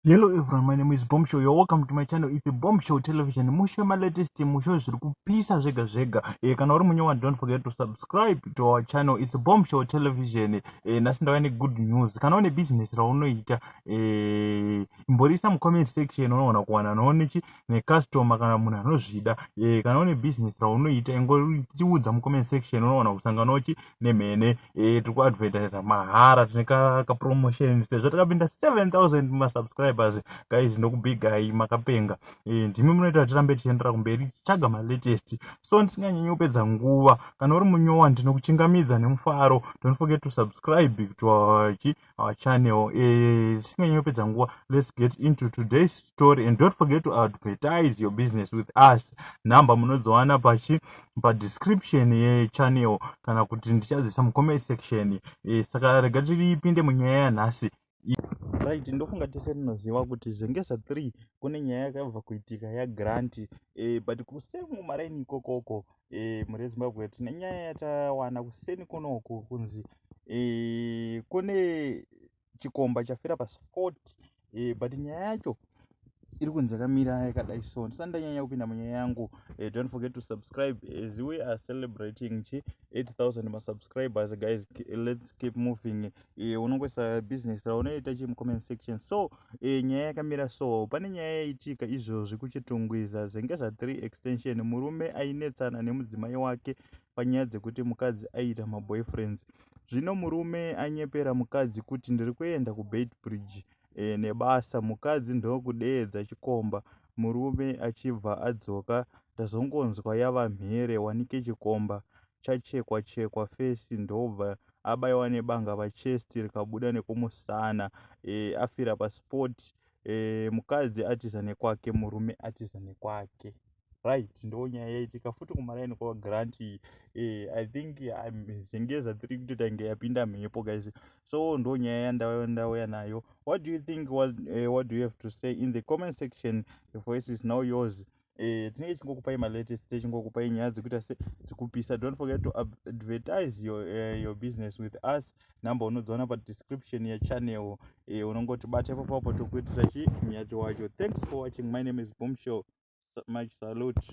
Hello everyone, my name is Bombshow. You're welcome to my channel. It's Bombshow Television. Mushe ma latest mushe zviri kupisa zvega zvega. Eh kana uri munyewa don't forget to subscribe to our channel. It's Bombshow Television. Eh nasi ndava ne good news. Kana une business raunoita eh imborisa mu comment section unoona kuwana noone chi ne customer kana munhu anozvida. Eh kana une business raunoita ingoriudza mu comment section unoona kusangana uchi nemhene eh, tiri kuadvertisa mahara tine kapromotion sezvo takapinda 7000 masubscribers guys ndokubigai makapenga eh, ndimi munoita kuti tirambe tichiendera kumberi tichitsvaga malatest so ndisinganyanyi kupedza nguva kana uri munyowa ndinokuchingamidza nemufaro don't forget to subscribe to our our channel eh, tisinganyi uh, kupedza nguva let's get into today's story and don't forget to advertise your business with us number munodziwana pachi padescription yechannel kana kuti ndichadzisa mucomment section eh, saka rega tiripinde munyaya yanhasi right ndofunga tese tinoziva kuti zvengeza 3 kune nyaya yakabva kuitika yagrant e, eh, but kusemu maraini ikokoko e, mhuri yezimbabwe tine nyaya yatawana kuseni kunoku kunzi e, kune chikomba chafira pasport e, but nyaya yacho iri kunzi yakamira yakadai so ndisati ndanyanya kupinda munyaya yangu e, don't forget to subscribe as we are celebrating chi 8000 masubscribers guys let's keep moving e, unongoisa business raunoita chii mucomment section so e, nyaya yakamira so pane nyaya yaitika izvozvi kuchitungwiza zvenge zva3 extension murume ainetsana nemudzimai wake panyaya dzekuti mukadzi aiita maboyfriends zvino murume anyepera mukadzi kuti ndiri kuenda kubeit bridge e, nebasa mukadzi ndokudeedza chikomba murume achibva adzoka ndazongonzwa yava mhere wanike chikomba chachekwa chekwa fesi ndobva abaiwa nebanga pachest rikabuda nekumusana e, afira paspot e, eh, mukadzi atiza nekwake murume atiza nekwake right ndo nyaya yaitika futi kumaraini kwa grant e, i think zengeza tiri kutotange yapinda mhepo guys so ndo nyaya yandauya ndauya nayo what do you think what, uh, what do you have to say in the comment section the voice is now yours eh, tinenge tichingokupai malatest tichingokupai nyaya dzekuita se dzekupisa don't forget to advertise your, uh, your business with us number unodziona padescription yechannel eh, unongoti bata ipo papo tokuitira chi nyati wacho thanks for watching my name is boom show much salute